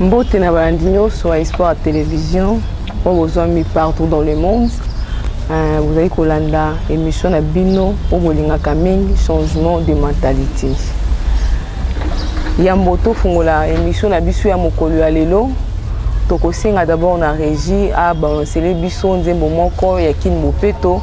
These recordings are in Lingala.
Mbote na balandi nyonso ya Espoir ya Television oyo bozwami partout dans le monde euh, bozali kolanda émission na bino oyo bolingaka mingi changement de mentalité yambo tofungola émission na biso ya mokolo ya lelo tokosenga d'abord na régie abalancele biso nzembo moko ya kin bopeto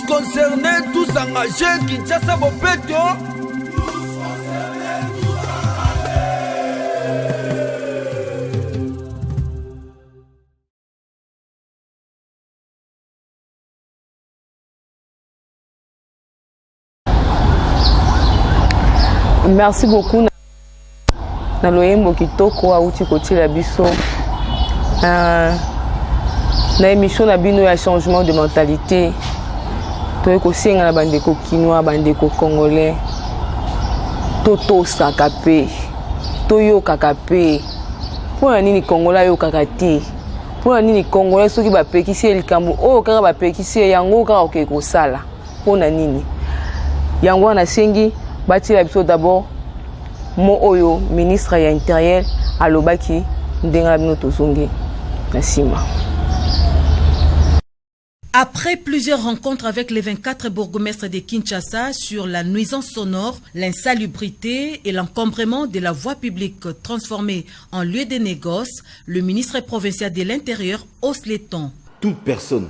concernés tous engagés kinshasa bopeto Merci beaucoup. na loyembo kitoko awuti kotiela biso uh, na emission na bino ya changement de mentalité toye kosenga na bandeko kinois bandeko congolais totosaka mpe toyokaka mpe mpo na nini congolais ayokaka te mpo na nini congolais soki bapekisi ye likambo oyo kaka bapekisi ye yango kaka okei kosala mpo na nini yango wana asengi batiela biso d'abord mo oyo ministre ya interieur alobaki ndenge na bino tozongi na nsima Après plusieurs rencontres avec les 24 bourgmestres de Kinshasa sur la nuisance sonore, l'insalubrité et l'encombrement de la voie publique transformée en lieu de négoce, le ministre provincial de l'Intérieur hausse les tons. Toute personne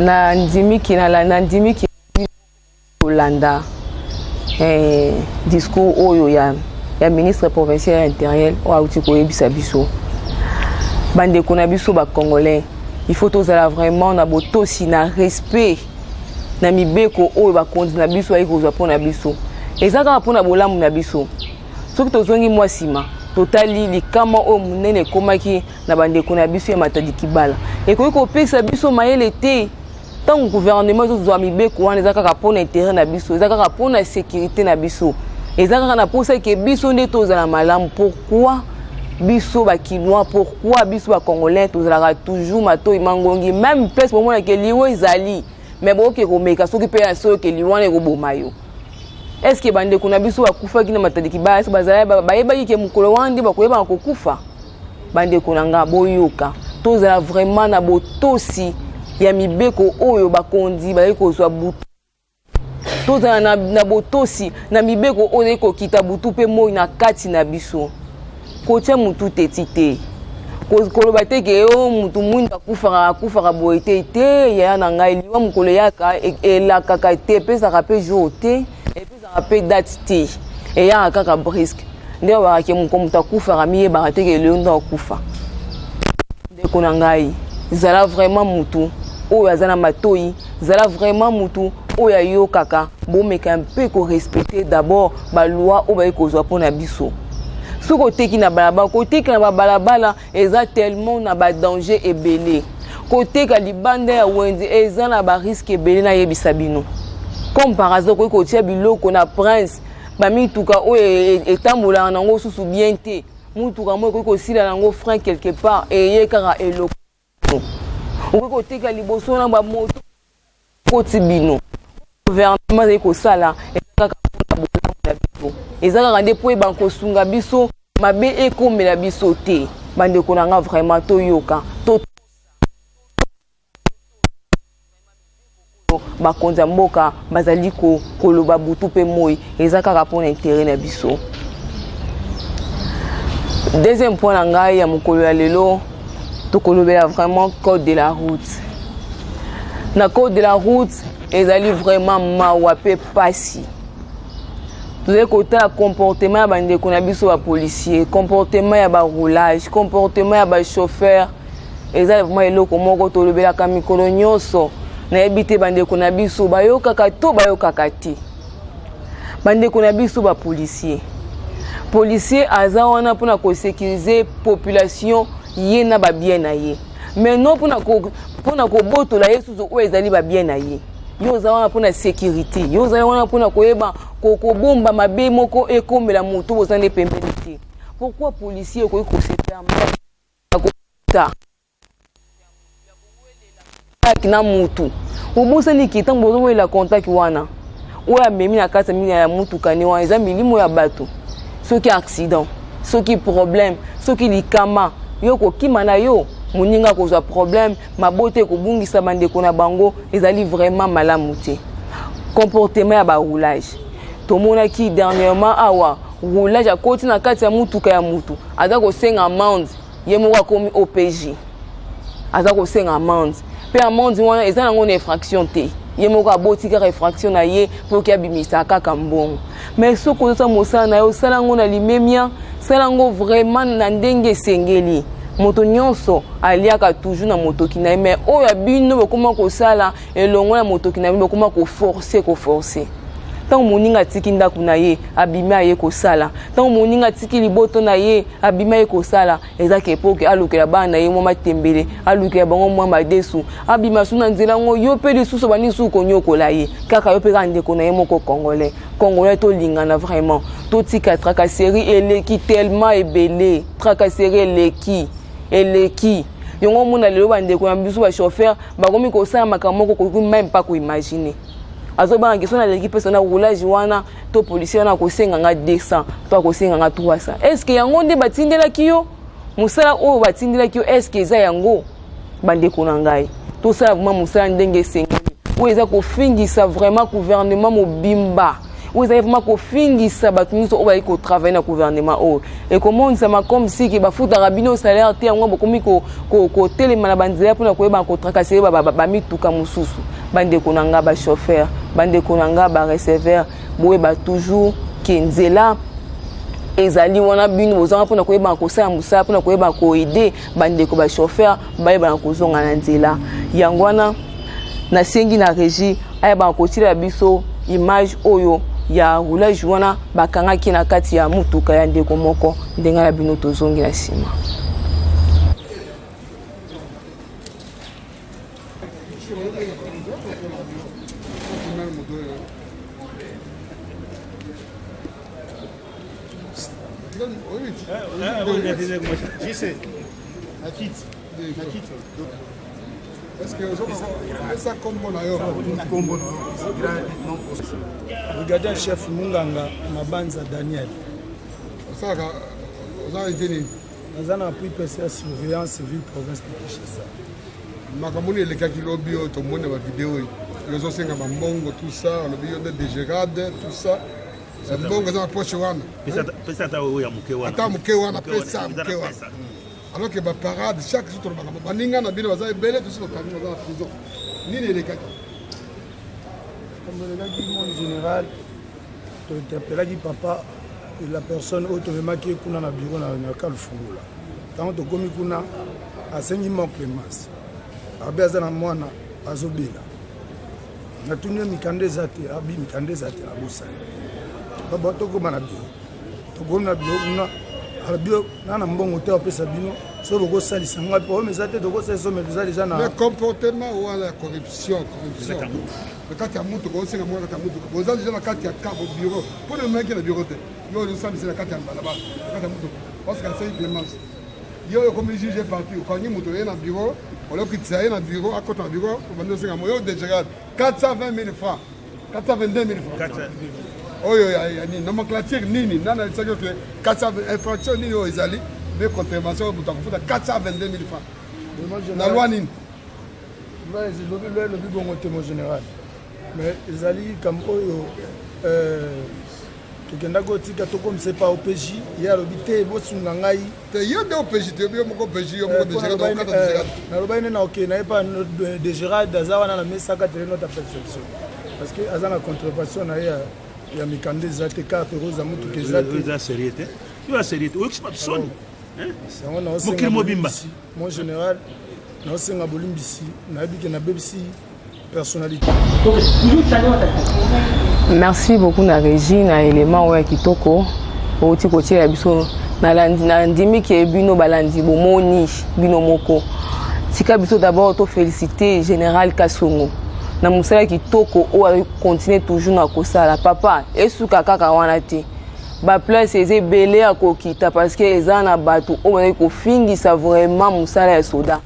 na ndimiki na ndimiki kolanda eh, discours oyo ya, ya ministre provincial ya intérieur oyo auti koyebisa biso bandeko na biso bacongolais il faut tozala vraiment na botosi na respect na mibeko oyo bakonzi na biso ayei kozwa mpo na biso eza kaka mpo na bolamu na biso soki tozongi mwa nsima totali likama oyo monene ekomaki na bandeko na biso ya matadi kibala ekoki kopesa biso mayele te ntango guvernema ezozwa mibeko wana eza kaka mpo na intere na biso eza kaka mpo na sekirite na biso eza kaka na mposa eke biso nde tozala malamu pourkui biso bakinois pourkui biso bacongolais tozalaka toujours matoi mangongi meme place bomonaka eliwa ezali me bokoki komeka soki mpe yanso oyoka eliwa wana ekoboma yo estce bandeko na biso bakufaki na matadi kibaya so bazalaki bayebaki ke mokolo wana nde bakoyebaka kokufa bandeko na nga boyoka tozala vraiment na botosi ya mibeko oyo bakonzi bazali kozwa butu tozala na, na botosi na mibeko oyo ezali kokita butu mpe moi na kati na biso kotya motu teti te koloba te ke o oh, motu mwindu akufaka akufaka boye te te yaya na ngai liwa mokolo eyaka e, elakaka te epesaka mpe jour te ezaka mpe date te eyaka kaka brisque nde babaka ke moko moto akufaka miyebaka te ke lelo nde akufa ndeko na ngai zala vraiment motu oyo aza na matoi zala vraiment motu oyo ayokaka bomeka mpe korespecte d'abord baloi oyo baye kozwa mpo na biso soki oteki na balabala kotekela na babalabala eza tellement na ba danger ebele koteka libanda ya wenze eza na ba risque ebele nayebisa bino comme par hasard okoki kotia biloko na prince bamituka oyo e, e, etambolaka na yango susu bien te motuka moko ekoki kosila na yango frein quelque part eye kaka eloko okoki koteka liboso na bamoto Koti bino gouvernement ezali kosala eza kaka mpona bolamu na biso, eza kaka nde mpo ebanda kosunga biso mabe ekomela biso te. Bandeko na nga vraiment toyoka to bakonzi ya mboka bazali koloba butu mpe moi eza kaka mpona intere na biso. Deuxième point na ngai ya mokolo ya lelo tokolobela vraiment code de la route na code de la route ezali vraiment mawa mpe mpasi tozali kotala comportement ya bandeko na biso bapolicier comportement ya baroulage comportement ya bachauffeur eza vraiment eloko moko tolobelaka mikolo nyonso nayebi te bandeko na biso bayokaka to bayokaka te bandeko na biso bapolisier policier aza wana mpona kosekirize population ye na babien na ye mais non mpona kobotola ye susu oyo ezali babien na ye yo oza wana mpona sécurité yo ozali wana mpona koyeba kobomba mabe moko ekomela moto boza nde pembeni te pourquoi policier okoki kosepela mbata contact na mutu obosani ke ntango bozowelela contact wana oyo amemi na kati ya motuka ne wana eza milimo ya bato soki accident soki problème soki likama yo kokima na yo moninga akozwa problème mabota ekobungisa bandeko na bango ezali vraiment malamu te comportement ya baroulage tomonaki dernièrement awa roulage akoti na kati ya motuka ya motu aza kosenga amande ye moko akomi opj aza kosenga amande mpe amande wana eza nango na infraction te ye moko aboti kaka infraction na ye mpo ke abimisa kaka mbongo mais soki ozosa mosala na yo osala yango na limemia sala yango vraiment na ndenge esengeli moto nyonso aliaka toujours na motoki na ye mais oyo ya bino bokoma kosala elongo na motoki na bino bokoma koforce koforce ntango moninga atiki ndako na ye abimi aye kosala ntango moninga atiki liboto na ye abimi aye kosala eza kepoke alukela bana na ye mwa matembele alukela bango mwa madesu abima su na nzela yango yo mpe lisusu bandi lisusu konyokola ye kaka yo mpe kaka ndeko na ye moko congolais congolais tolingana vraiment totika tracasserie eleki tellement ebele tracasserie eleki eleki yango omona lelo bandeko na biso bachauffeur bakomi kosala makambo moko koki meme pas koimagine azobanga kiso naleki mpe sona roulage wana to policier wana akosenga nga 200 to akosenga nga 300 estce yango nde batindelaki yo mosala oyo batindelaki yo estce eza yango bandeko na ngai tosala vraimen mosala ndenge esengeli oyo eza kofingisa vraimen gouvernement mobimba oyo ezali vraimen kofingisa bato nyonso oyo bayaki kotravaille na gouvernement oyo ekomonisama comme siki bafutaka bino salaire te yango bokomi kotelema na banzela mpona koyebana kotrakasele bamituka mosusu bandeko na ngai bachauffeur bandeko na ngai bareceveur boyeba toujours ke nzela ezali wana bino bozanga mpona koyebaka kosala mosala mpona koyebaka koede bandeko ba chauffeur bayebana kozonga na nzela yango wana nasengi na régie ayebana kotilela biso image oyo ya roulage wana bakangaki na kati ya motuka ya ndeko moko ndenge na bino tozongi na nsima Regardez chef Munganga Mabanza Daniel. Ça, ça a été naza na appui pesa ya surveillance ville province de kinshasa makambo nini elekaki lobi oyo tomoni na bavideo oyo ozosenga bambongo tout ça alobi yo nde degerade tout ça libongo eza na poche wana pesa ata oyo ya moke wana ata moke wana pesa moke wana alors que baparade chaque jour tolobaka baninga na bino baza ebele tosi bakangi baza na prison nini elekaki elekaki mon général tointerpelaki papa la personne oyo tomemaki ye kuna na biro na kalfungola ntango tokomi kuna asengi mwa clemence abe aza na mwana azobela natuni yo mikanda eza te abi mikanda eza te nabosani baba tokoma na biro tokomi na biro kuna alobio na na mbongo te apesa bino so bokosalisa ngai mpo oyo eza te tokosalisa me toza deja na comportement wana ya corruption corruption na kati ya motuka osenga mwa kati ya motuka boza deja na kati ya kabo bureau mpo na maki na bureau te yo ozosalisa na kati ya balabala na kati ya motuka parce que asali clemence Yo yo comme juge parti, okangi moto ye na bureau, olokitisa ye na bureau, akota na bureau, obandi osenga moyo degerade 420 000 francs, 422 000 francs. Oyo ya ya nini? Nomenclature nini? Nani alisaki oke 400 infraction nini oyo ezali? Mpe contravention moto akofuta 422 000 francs. Na loi nini? Loi elobi loi elobi bongo te mon général. Mais ezali likambo oyo euh, tokendaki otika tokomisa epa OPJ ye alobi te bosunga ngai te yo nde opeji te yo moko opeji yo moko nalobaki nde na okei na ye pa de gerald aza wana na mesaka tele nota perception parce que aza na contrevention na ye ya mikanda eza te kaka peroza motuka eza te eza serie te yo aserie te oyokisi bato soni yango naosenga mokili mobimba mon général naosenga bolimbisi nayebi ke nabebisi merci beaucoup na régie na élément oyo ya kitoko outi kotiela biso nandimi ke bino balandi bomoni bino moko tika biso d'abord tofélicité général kasongo na mosala kitoko oyo akontinue toujours na kosala papa esuka kaka wana te baplace eza ebele ya kokita parce que eza na bato oyo bazali kofingisa vraiment mosala ya soda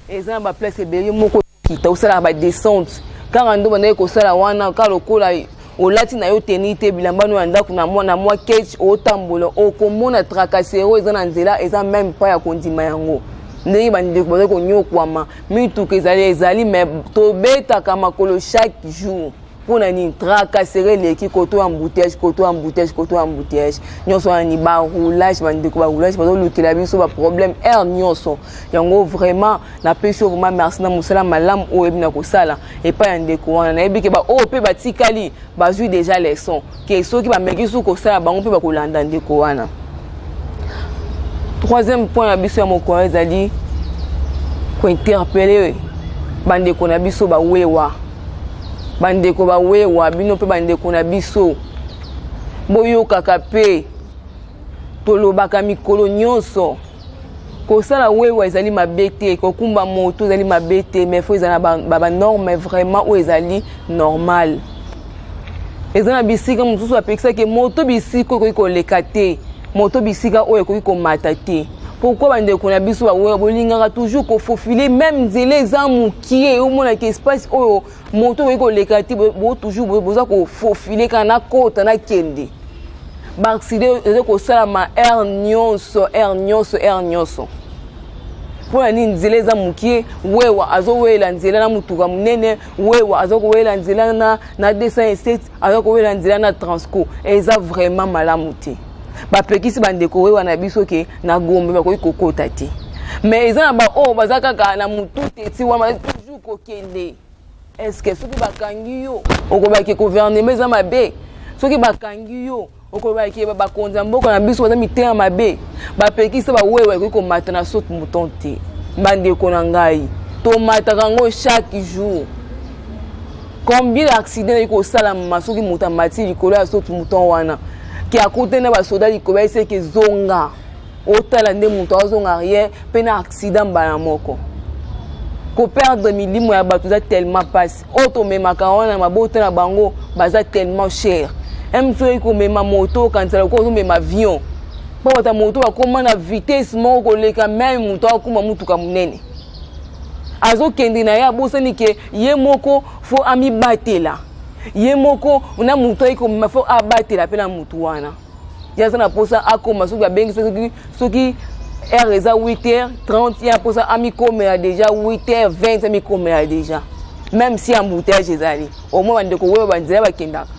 eza na ba place ebele yo moko okita osalaka ba descente kaka ndo bandaki kosala wana kaka lokola olati na yo teni te bilamba no ya ndako na mwa na mwa kech otambola okomona tracasero oyo eza na nzela eza meme pa ya kondima yango ndenge bandeko bazali konyokwama mituka ezali ezali me tobetaka makolo chaque jour mpo na nini tracasere eleki koto ya embouteillage koto ya embouteillage koto ya embouteillage nyonso wana ni baroulage bandeko baroulage bazolukela biso baproblème aire nyonso yango vraiment napesi yo vraiment merci na mosala malamu oyo oyebi na kosala epai ya ndeko wana nayebi ke baoyo mpe batikali bazwi déjà leçon ke soki bameki susu kosala bango mpe bakolanda ndeko wana troisième point na biso ya mokolo ezali kointerpele bandeko na biso bawewa bandeko bawewa bino mpe bandeko na biso boyokaka mpe tolobaka mikolo nyonso kosala wewa ezali mabe te kokumba moto ezali mabe te mais fo ezala na banorme vraiment oyo ezali normal eza na bisika mosusu apekisaki moto bisika ekoki koleka te moto bisika oyo ekoki komata te pourkui bandeko na biso bawewa bolingaka toujours kofofile meme nzela eza mokie omonaka espace oyo moto okoki koleka te bo toujours boza kofofile kaka nakota nakende baakside eza kosalama aire nyonso aire nyonso aire nyonso mpo na nini nzela eza mokie wewa azowela nzela na motuka monene wewa aza kowela nzela na, na 207 aza kowela nzela na transco eza vraiment malamu te bapekisi bandeko wewa na biso ke na gombe bakoki kokota te mais eza na baoyo baza kaka na motu te ti wana kokende eske soki bakangi yo okoloba ke gouvernement eza mabe soki bakangi yo okoloba ke bakonzi ya mboka na biso baza mitema mabe bapekisa bawewe ekoki komata na sote mouton te bandeko na ngai tomataka yango chaque jour combien ya accident ezali kosalama soki moto amati likolo ya soki mouton wana ke akutani na basoda likolo ayeseke zonga otala nde moto azonga arrière mpe na accident mbala moko koperdre milimo ya bato eza tellement mpasi oyo tomemaka wana mabota na bango baza tellement cher eme soki komema moto okanisa lokola ozomema avion mpo bata moto bakoma na vitesse moko koleka meme moto akoma motuka monene azokende na ye abosani ke ye moko fo amibatela ye moko na moto ayei komema fo abatela mpe na moto wana ye aza na mposa akoma soki babengisa soki soki heure eza 8 heure 30 ye mposa amikomela déjà 8 heure 20 amikomela déjà même si embouteillage ezali omoi bandeko oyo banzela bakendaka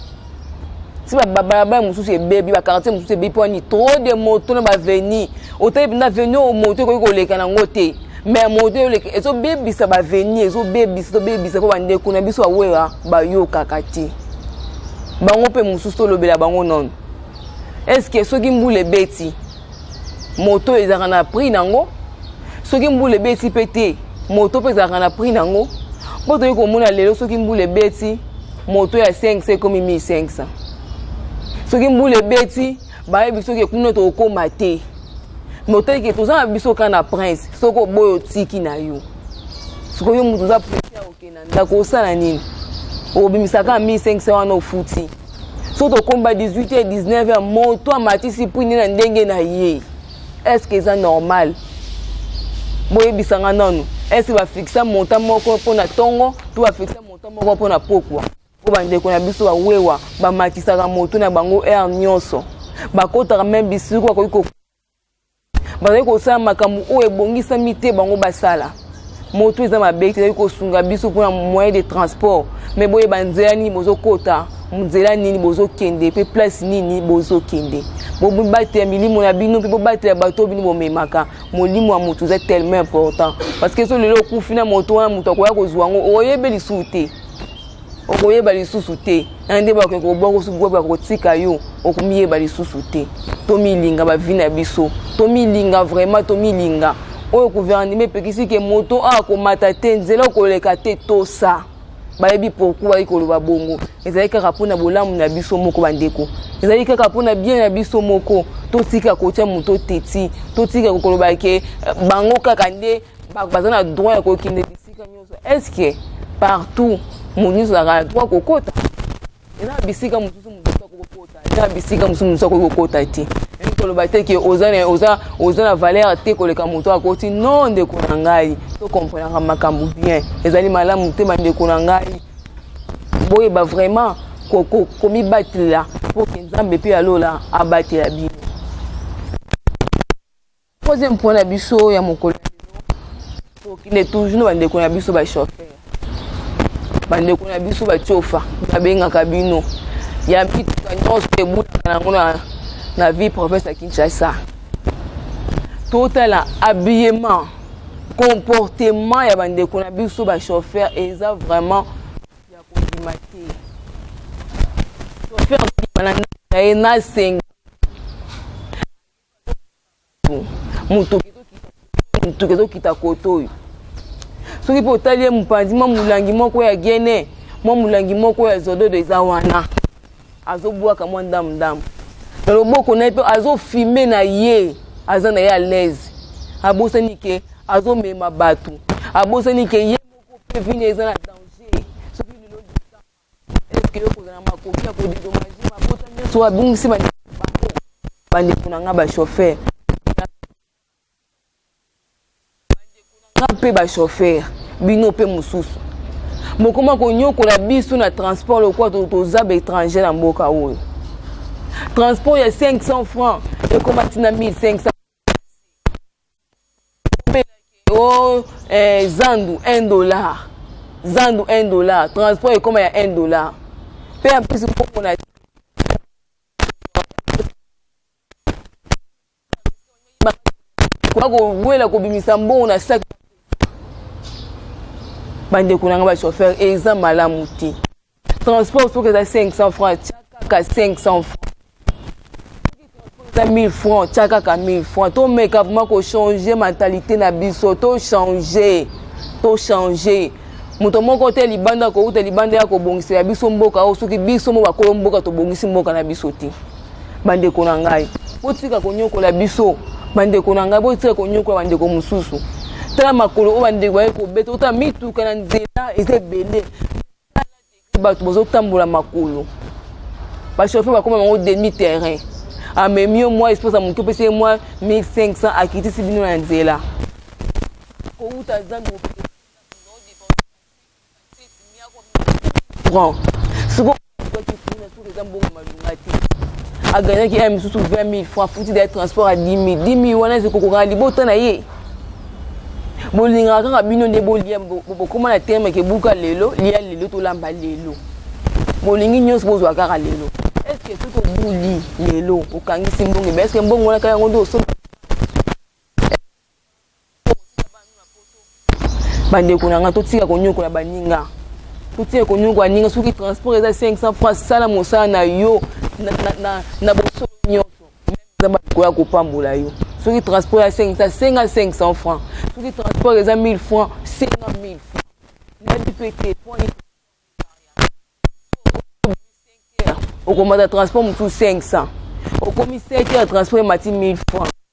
si babalabala mosusu ebebi bakartier mosusu ebebi mpo ani trop de moto na baveni otali mpenza veni oyo moto ekoki koleka nango te mais moto eleki ezobebisa baveni ezobebisa ezobebisa mpo bandeko na biso bawera bayokaka te bango mpe mosusu tolobela bango nono eske soki mbula ebeti moto ezalaka na prix nango soki mbula ebeti mpe te moto mpe ezalaka na prix nango mpo toyei komona lelo soki mbula ebeti moto ya 500 ekomi 1500 soki mbula ebeti bayebi biso ke kuna tokokoma te me oteyi ke toza na biso kaka na prince soki oboyi otiki na yo sikoyo yo moto oza presi ya kokenda ndako osala nini okobimisa kaka 1500 wana ofuti so tokomba 18 ya 19 ya moto amatisi pwini na ndenge na ye estce eza normal boyebisa nga nanu estce bafixa monta moko mpo na ntongo to bafixa monta moko mpo na pokwa Mpo bandeko na biso ba wewa bamakisaka moto na bango heure nyonso, bakotaka meme bisiko bakoki ko bazali kosala makambo oyo ebongisami te bango basala moto eza mabe te ezali kosunga biso mpona moyen de transport mai boyeba nzela nini bozokota nzela nini bozokende mpe place nini bozokende bobatela milimo na bino mpe bobatela bato bino bomemaka molimo ya moto eza tellement important parce que so lelo okufi na moto wana moto akoya kozwa yango oyebi lisusu te okoyeba lisusu te na nde bakoki kobwaka kotika yo okomiyeba lisusu te tomilinga bavi na biso tomilinga vraiment tomilinga oyo guvernema epekisi ke moto akomata te nzela okoleka te tosa bayebi pourkui bayi koloba bongo ezali kaka mpo na bolamu na biso moko bandeko ezali kaka mpo na bien na biso moko totika kotya moto teti totika koloba ke bango kaka nde baza na droit ya kokende est-ce que partout moto nyonso azalaka na droit kokota eza na bisika mosusu moto nyonso akoki kokota eza na bisika mosusu moto akoki kokota te yangi koloba te ke oza na oza oza na valeur te koleka moto akoti no ndeko na ngai tokomprenaka makambo bien ezali malamu te bandeko na ngai boyeba vraiment komibatela mpo ke nzambe mpe alola abatela bino Troisième point na biso ya mokolo tokende toujours na bandeko na biso bachauffeur bandeko na biso bacofa babengaka bino ya mituka nyonso ebutaka nango na, na vie province ya kinshasa totala habillement comportement ya bandeko na biso bachauffeur eza vraiment ya kondima te chauffeur na ye nasenga moto moto ezo kita kote oyo soki mpe otali ye mopanzi mwa molangi moko ya gene mwa molangi moko ya zododo eza wana azobwaka mwa ndamu ndamu na loboko na ye mpe azofime na ye aza na ye alaise abosani ke azomema bato abosani ke ye moko mpe vini eza na danger soki lelo likama eske yo kozala na makoki ya kodedomage mabota nyonso oyo abungisi bandeko na bango bandeko na ngai bashofere nga mpe bashofere bino mpe mosusu bokoma konyokola biso na transport lokola toza baétranger na mboka oyo transport ya 500 francs ekomati na 1500 oh, eh, zandu 1 dollar zandu 1 dollar transport ekoma ya 1 dollar mpe ya mpesi komona kowela kobimisa mbongo na saki bandeko na ngai bachauffeur eza malamu te transport soki eza 500 francs tya kaka 500 francs eza 1000 francs tya kaka 1000 francs tomeka vraimen kochange mentalité na biso tochange tochange moto moko te libanda kouta libanda ya kobongisela biso mboka oyo soki biso mo bakolo mboka tobongisi mboka na biso te bandeko na ngai botika konyokola biso bandeko na ngai botika konyokola bandeko mosusu tala makolo oyo bandeko baye kobeta ota mituka na nzela eza ebele bato bazotambola makolo bashofe bakoma bango demi terrain amemi yo mwa esposa moke opesi ye mwa 1500 akitisi bino na nzela kowuta zambi sikoyo eza mbongo malonga te aganyaki ya misusu 20 000 franc futi da transport ya 10 000 10 000 wana eza kokokana libota na ye bolingaka kaka bino nde bolia bokoma na terme ke buka lelo lia lelo tolamba lelo bolingi nyonso bozwa kaka lelo estce soki obuli lelo okangisi mbongo ebe estce mbongo wana kaka yango nde osomba bandeko na ngai totika konyokola baninga totika konyokola ninga soki transport eza 500 francs sala mosala na yo na, na, na, na bosolo nyonso nzambe akoya kopambola yo soki transport ya 500 senga 500 francs soki transport eza 1000 francs senga 1000 francs nayebi mpe te okomata transport mosusu 500 okomi 7 heures transport emati 1000 francs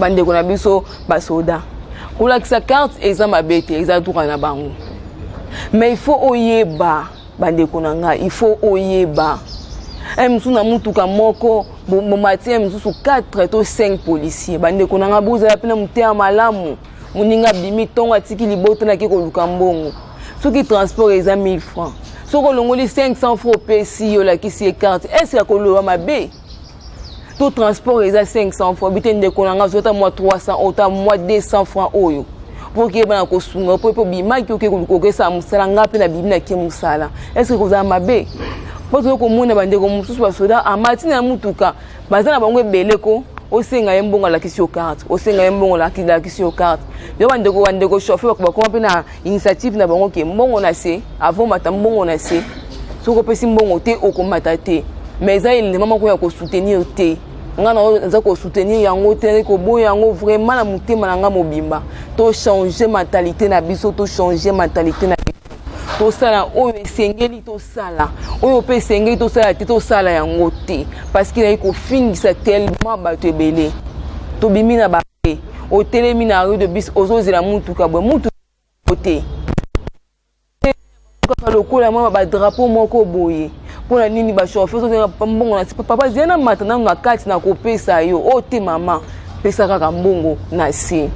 bandeko na biso basoda kolakisa carte eza mabe te eza droit na bango mais il faut oyeba bandeko na ngai il faut oyeba ye mosusu na motuka moko bomati ye mosusu 4 to 5 policier bandeko na ngai bozala mpe na moteya malamu moninga abimi ntongo atiki libota nake koluka mbongo soki transport eza 1000 francs soki olongoli 500 francs opesi yo olakisi ye carte est ce que akoloba mabe to transport eza 500 francs bite ndeko na ngai azwata mwa 300 oyo ta mwa 200 francs oyo mpo okeyeba na kosunga mpo mpe obimaki oke kokokesala mosala ngai mpe nabimi nake mosala estce kozala mabe mpo toyei komona bandeko mosusu basoda amati na motuka baza na bango ebele ko osenga ye mbongo alakisi yo karte osenga ye mbongo alakisi yo karte yo bandeko bandeko chauffeur bakoma mpe na initiative na bango ke mbongo na se avant mata mbongo na se soki opesi mbongo te okomata te mais eza elema moko ya kosoutenir te ngai na oyo naza kosoutenir yango te nazali koboya yango vraiment na motema na ngai mobimba tochange mentalité na biso tochange mentalité na biso tosala oyo esengeli tosala oyo mpe esengeli tosala te tosala yango te parce que nayi kofingisa tellement bato ebele tobimi na ba te otelemi na rue de bis ozozela mutuka boye mutu te kaka lokola mwa badrapo moko boye mpo na nini bashofeur ozozela mbongo na papa zia na mata nanu na kati na kopesa yo o oh, te mama pesa kaka mbongo na se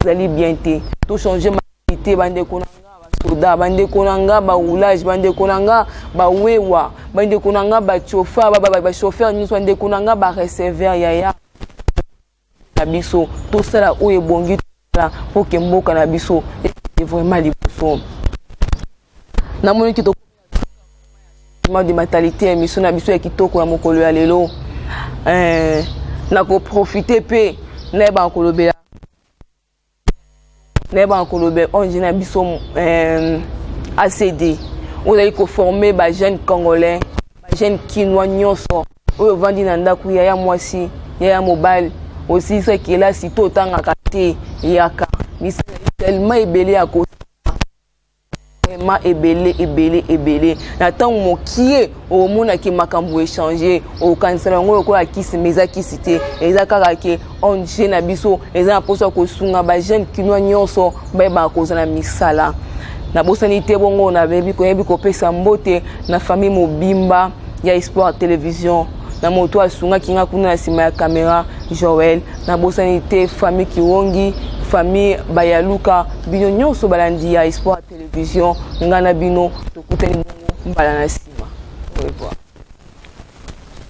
ezali bien te tochange maite bandeko na nga basoda bandeko na nga baroulage bandeko na nga bawewa bandeko na nga bachofa bashofeur nyonso bandeko na nga bareceveur yaya na biso tosala oyo ebongi tosala mpo ke mboka na biso ekende vraiment liboso namoniki tokomaa de mentalité ya émission na biso ya kitoko ya mokolo ya lelo eh, nakoprofite mpe nayebaka kolobela nayebaka koloba ong na biso euh, acd ozali koforme bajeune congolais bajeune kinois nyonso oyo ovandi na ndako yaya mwasi yaya mobali osilisa kelasi to otangaka te yaka misala tellement ebele ya kosala vraiment ebele ebele ebele na ntango mokie okomona ke makambo echange okokanisa yango lokola kisi ma eza kisi te eza kaka ke ong na biso eza na mposa kosunga bajeune kinois nyonso bayebaka kozala misala nabosani te bongo nayebi koyambi kopesa mbote na famille mobimba ya espoir television na moto asungaki nga kuna na nsima ya kamera joel nabosani te famille kiwongi famille bayaluka bino nyonso balandi ya espoir ya television ngai na bino tokutani bongo mbala na nsima au revoir